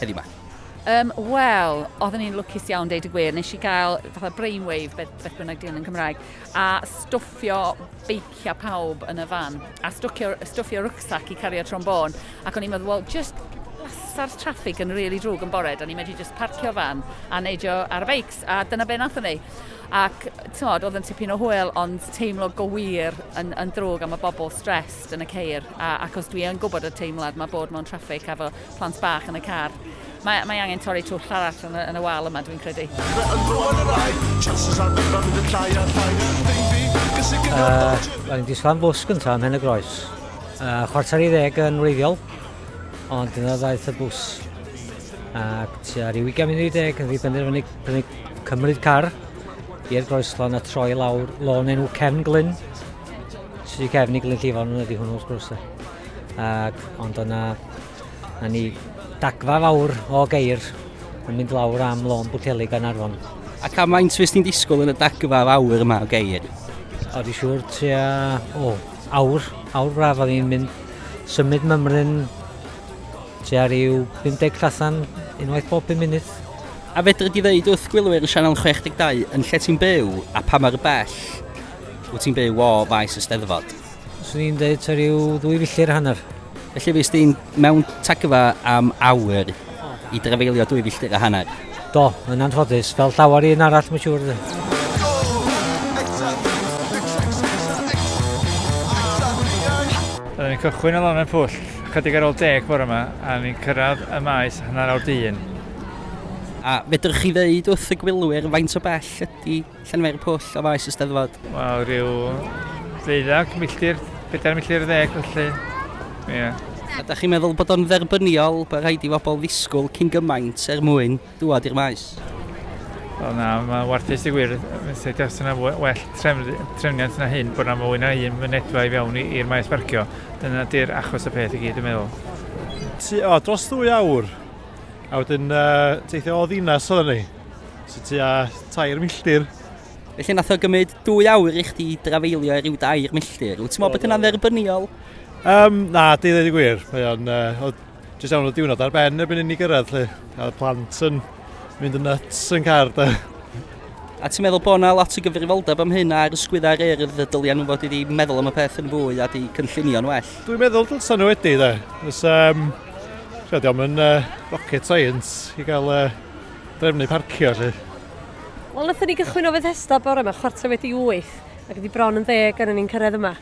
heddiw 'ma? Yym, wel, oedden i'n lwcus iawn, deud y gwir. Nes i gael fatha brainwave, beth, beth bynnag di'n yn Cymraeg, a stwffio beiciau pawb yn y fan, a stwffio, stwffio rucksack i cario trombôn. Ac o'n i'n meddwl, wel, just lasa'r traffig yn rili really drwg yn bore, da ni'n medru just parcio fan a neidio ar y beics, a dyna be nath ni. Ac, tymod, oedd yn tipyn o hwyl, ond teimlo go wir yn, yn drwg am y bobl stressed yn y ceir. A, ac os dwi yn gwybod y teimlad mae bod mewn traffig a fo plant bach yn y car. Mae, mae angen torri twll arall yn y, yn y wal yma, dwi'n credu. Uh, Rwy'n disglan bws gyntaf ymhen y groes. Uh, chwarter i ddeg yn wreiddiol, ond dyna ddaeth y bws. Ac tua rhyw 20 munud i ddeg yn ddibenderfynu prynu cymryd car i'r groeslon a troi lawr lôn enw Cefn Glyn. Sy'n cefn i Glyn Llifon ydy hwnnw wrth gwrs. ac ond o'na na ni dagfa fawr o geir yn mynd lawr am lôn Bwceli gan Arfon. Ac am faint fes ti'n disgwyl yn y dagfa fawr yma o geir? O, di siŵr tua, o, awr, awr braf oedd hi'n mynd symud mymryn tua rhyw 50 llathan unwaith bob 5 munud. A fedri di ddeud wrth gwylwyr y Sianel 62 yn lle ti'n byw a pa mor bell wyt ti'n byw o faes y steddfod? Swn i'n dweud ta rhyw ddwy filltir a hanner. Felly fes di'n mewn tagfa am awyr i drafeilio dwy filltir a hanner? Do, yn anffodus, fel llawer un arall, mae'n siŵr. Oedden ni'n cychwyn o lan yn pwll, chydig ar ôl deg bore yma, a ni'n cyrraedd y maes hanner awr dyn. A fedrwch chi ddeud wrth y gwylwyr faint o bell ydy Llenwi'r pwll o faes y Steddfod. Wel, rhyw ddeuddag milltir, bedair milltir ddeg felly. Ie. Yeah. Ydych chi'n meddwl bod o'n dderbyniol bod rhaid i bobl ddisgwyl cyn gymaint er mwyn dŵad i'r maes? Wel na, mae warthus i wir. Sut os yna well trefniant na hyn bod yna mwy na un mynedfa i fewn i'r maes barcio. Dyna di'r achos y peth i gyd yn meddwl. Ti, o, dros ddwy awr. A wedyn uh, teithio o ddinas oedden ni. So tua tair milltir. Felly nath o gymryd dwy awr i chdi drafeilio i ryw dair milltir. Wyt ti'n meddwl bod hynna'n dderbyniol? Um, na, di ddweud y gwir. Mae o'n... Uh, jyst iawn o diwrnod ar ben erbyn inni gyrraedd lle. A plant yn mynd yn nuts yn car da. A ti'n meddwl bod yna lot o gyfrifoldeb am hyn ar ysgwyddau'r urdd y dyliau nhw fod wedi meddwl am y peth yn fwy a di cynllunio'n well? Dwi'n meddwl dylsan nhw wedi, da. Os, um, Chod, diolch yn uh, rocket science i gael uh, drefnu parcio lle. Wel, nathon ni gychwyn o Fethesda bore yma chwarter wedi wyth, ac ydi bron yn ddeg ar ni'n cyrraedd yma.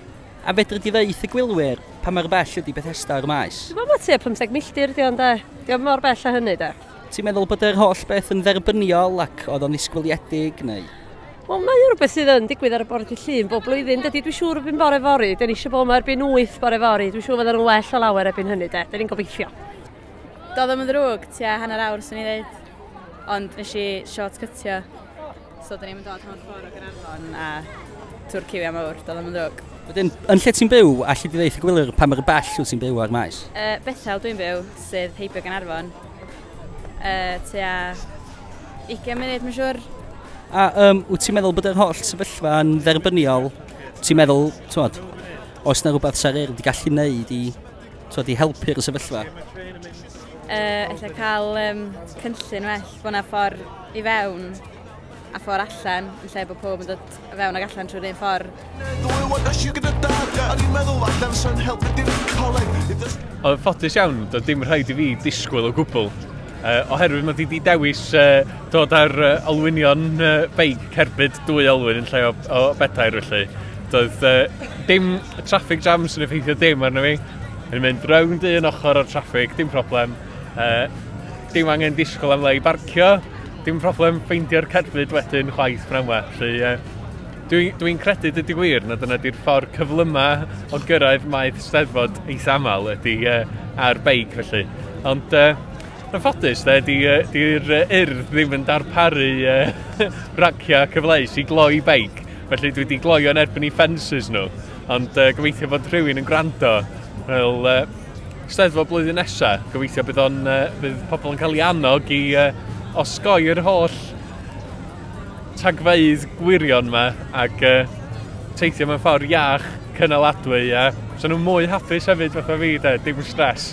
A fedri di ddeith y gwylwyr pa mor bell ydi Bethesda o'r maes? Dwi'n meddwl mae tua 50 milltir di ond e. Diolch mor bell a hynny de. Ti'n meddwl bod yr holl beth yn dderbyniol ac oedd o'n ddisgwyliedig neu? Wel, mae o rhywbeth sydd yn digwydd ar y bore dy llun bob blwyddyn. Dydy, dwi'n siŵr erbyn bore fori, dyn ni eisiau bod yma erbyn 8 bore fori. Dwi'n siŵr fydden nhw'n well o lawer erbyn hynny, de. Dyn ni'n gobeithio. Doedd ddim yn ddrwg, tua hanner awr swn i'n dweud. Ond nes i short cytio. So dyn ni'n mynd dod hanner ffordd o Gaernarfon a tŵr ciwiau mawr, doedd ddim yn ddrwg. Wedyn, yn lle ti'n byw, alli di ddeith y gwylir pa mor bell wyt ti'n byw o'r maes? Uh, Bethel dwi'n byw, sydd heibio Gaernarfon. Uh, tua 20 munud, mae'n siŵr. A um, wyt ti'n meddwl bod yr holl sefyllfa yn dderbyniol? Ti'n meddwl, ti'n os na rhywbeth sa'r er wedi gallu wneud i Tod i helpu'r sefyllfa? Uh, ella cael um, cynllun well, bod yna ffordd i fewn a ffordd allan, yn lle bod pob yn dod i fewn ac allan trwy'r un ffordd. Oedd ffodus iawn, doedd dim rhaid i fi disgwyl o gwbl Uh, oherwydd mae di di dewis uh, dod ar uh, olwynion uh, beic cerbyd dwy olwyn yn lle o, o bedair felly. Doedd uh, dim traffic jams yn effeithio dim arno fi. Yn mynd rownd un ochr o'r traffic, dim problem. Uh, dim angen disgwyl am le i barcio, dim problem ffeindio'r cerbyd wedyn chwaith pnawn yma. Felly, uh, Dwi'n dwi credu dyd i wir na dyna di'r ffordd cyflyma o gyrraedd maeth steddfod eis aml ydy uh, ar beic felly. Ond uh, yn ffodus, da, di'r di, di urdd ddim yn darparu uh, raciau cyfleus i gloi beic. Felly dwi wedi gloio yn erbyn i ffensys nhw. Ond uh, gobeithio bod rhywun yn gwrando. Wel, uh, steddfod blwyddyn nesaf, gobeithio bydd, on, uh, bydd pobl yn cael ei annog i uh, osgoi'r holl tagfeydd gwirion ma ac uh, teithio mewn ffordd iach, cynaladwy, a so nhw'n mwy hapus hefyd fatha fi, de, dim stres.